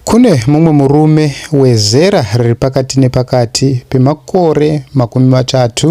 Kune mumwe murume wezera riri pakati nepakati pemakore makumi matatu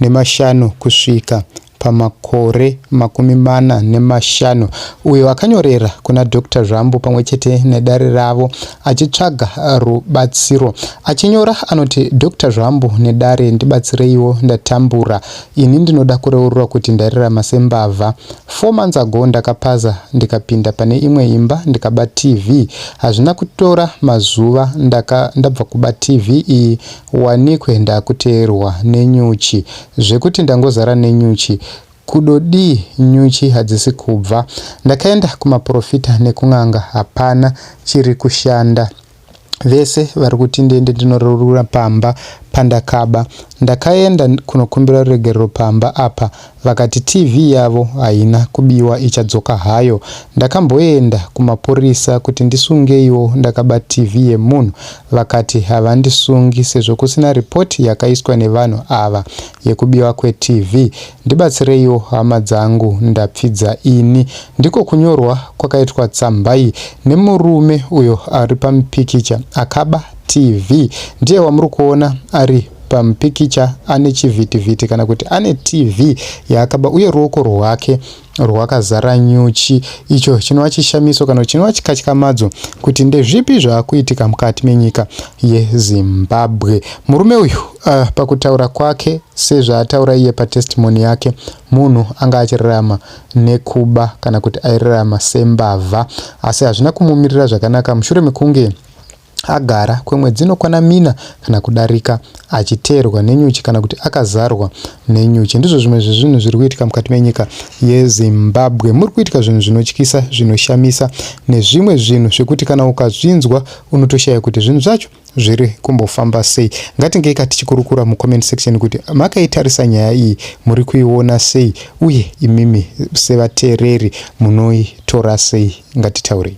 nemashanu kusvika pamakore makumi mana nemashanu uyo akanyorera kuna Dr Zvambu pamwe chete nedare ravo achitsvaga rubatsiro. Achinyora anoti, Dr Zvambu nedare ndibatsireiwo ndatambura Ini ndinoda kureurura kuti ndairarama sembavha. Four months ago ndakapaza ndikapinda pane imwe imba ndikaba TV. Hazvina kutora mazuva ndaka, ndabva kuba TV iyi wanikwe ndakuteerwa nenyuchi zvekuti ndangozara nenyuchi kudodii nyuchi hadzisi kubva. Ndakaenda kumaporofita nekun'anga hapana chiri kushanda. vese vari kuti ndiende ndinororura pamba pandakaba ndakaenda kunokumbira ruregerero pamba apa vakati tv yavo haina kubiwa ichadzoka hayo ndakamboenda kumapurisa kuti ndisungeiwo ndakaba tv yemunhu vakati havandisungi sezvo kusina ripoti yakaiswa nevanhu ava yekubiwa kwetv Ndibatsireiwo hama dzangu ndapfidza ini. Ndiko kunyorwa kwakaitwa tsamba iyi nemurume uyo ari pamupikicha akaba TV. Ndiye wamuri kuona ari pamupikicha ane chivhitivhiti kana kuti ane TV yaakaba uye ruoko rwake rwakazara nyuchi icho chinova chishamiso kana chinova chikatyamadzo kuti ndezvipi zvaakuitika mukati menyika yezimbabwe murume uyu uh, pakutaura kwake sezvaataura iye patestimoni yake munhu anga achirarama nekuba kana kuti airarama sembavha asi hazvina kumumirira zvakanaka mushure mekunge Agara kwemwedzi inokwana mina kana kudarika achiteerwa nenyuchi kana kuti akazarwa nenyuchi. Ndizvo zvimwe zvezvinhu zviri kuitika mukati menyika yeZimbabwe. Muri kuitika zvinhu zvinotyisa, zvinoshamisa nezvimwe zvinhu zvekuti kana ukazvinzwa unotoshaya kuti zvinhu zvacho zviri kumbofamba sei. Ngatingei ka tichikurukura mucomment section kuti makaitarisa nyaya iyi muri kuiona sei uye imimi sevateereri munoitora sei. Ngatitaurei.